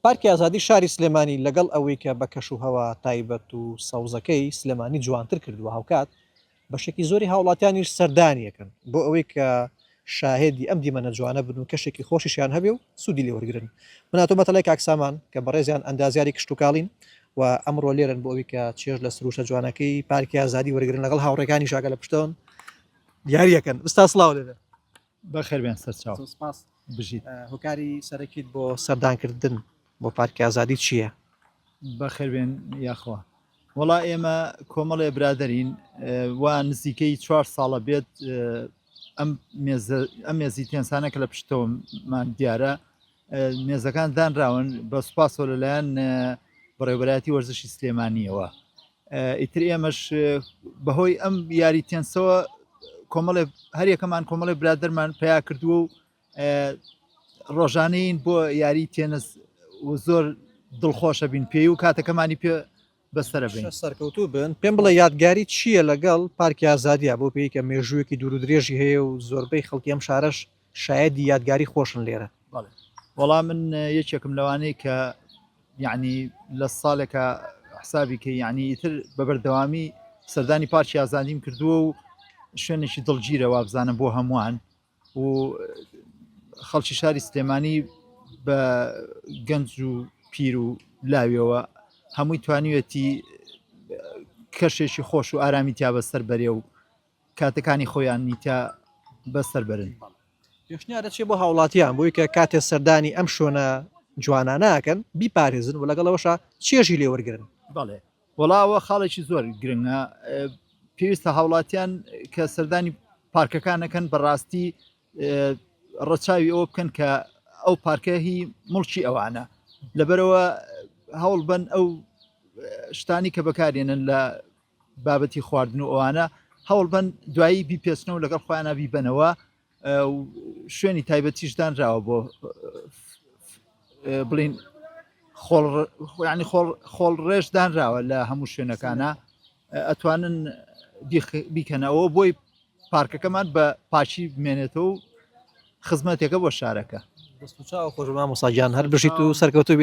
پارکی ئازادی شاری سلێمانی لەگەڵ ئەوەی کە بە کەش و هەوا تایبەت و سەوزەکەی سلێمانی جوانتر کردووە هاوکات بەشێکی زۆری هاوڵاتیانیش سەردانی ئەکەن بۆ ئەوەی کە شاهێدی ئەم دیمەنە جوانە بن و کەشێکی خۆشیشیان هەبێ و سوودی لێ وەرگرن من هاتوومە مەتەلای کاک سامان کە بەڕێزیان ئەندازیاری کشتوکاڵین و ئەمڕۆ لێرەن بۆ ئەوی کە چێژ لە سروشتە جوانەکەی پارکی ئازادی وەرگرن لەگەڵ هاوڕێکانی شاگە لە پشتەوەن دیارەکەن ئستا سلااو لێ بەخێربێن سەرچاو. زۆر سپاس. بژیت. هۆکاری سەرەکیت بۆ سەردانکردن بۆ پارکی ئازادی چییە؟ بەخێربێن یاخوا. وەڵا ئێمە کۆمەڵێ برادەرین وا نزیکەی چوار ساڵە بێت ئەم ئەم مێزی تێنسانە کە لە پشتەوەمان دیارە مێزەکان دانراون بە سوپاسەوە لەلایەن بەڕێوبەتی وەرزشی سلێمانیەوە ئیتر ئێمەش بەهۆی ئەم یاری تێنسەوە کۆمەڵێ هەریەکەمان کۆمەڵی برادەرمان پیا کردووە و ڕۆژانین بۆ یاری تێنس و زۆر دڵخۆشە بین پێی و کاتەکەمانی پێ بەسرە بین سەرکەوتوو بن پێم بڵێ یادگاری چییە لەگەڵ پارکی ئازادیا بۆ پێیکە مێژوویەکی دوور درێژی هەیە و زۆربەی خەڵکی ئەم شارەش شایەدی یادگاری خۆشن لێرە. بەڵێ وەڵا من یەکێکم لەوانەی کە یعنی لە ساڵێکە حسابی کە یعنی ئیتر بە بەردەوامی سەردانی پارچی ئازادیم کردووە و شوێنێکی دڵگیرە وابزانم بۆ هەمووان و خەڵکی شاری سلێمانی بە گەنج و پیر و لاویەوە هەمووی توانیوێتی کەشێکی خۆش و ئارامی تیا بەسەر بەرێ و کاتەکانی خۆیان میتە بە سەر بەرن. پێشنیار دەچێت بۆ هاوڵاتیان بۆی کە کاتێ سەردانی ئەم شوێنە جوانانە ئەکەن بیپارێزن و لەگەڵ ئەوەشا چێژی لێ وەرگن بەڵێ وەڵاوە خاڵێکی زۆر گرنگە پێویستە هاوڵاتیان کە سەردانی پارکەکانەکەن بەڕاستی ڕەچاوی ئەوە بکەن کە ئەو پارکە هی مڵکی ئەوانە لەبەرەوە هەوڵ بن ئەو شتانی کە بەکارێنن لە بابەتی خواردن و ئەوانە هەوڵبەن دوایی بیپێچنەوە و لەگەڵ خۆیانە بیبەنەوە و شوێنی تایبەتیش دانراوە بۆ بڵین خۆڵڕانی خۆڵ ڕێژ دانراوە لە هەموو شوێنەکانە ئەتوانن بیکەنەوە بۆی پارکەکەمان بە پاشی بمێنێتەوە و خزمەتێکە بۆ شارەکە خۆشمان مساجان هەر بژیت و سەرکەوتوبی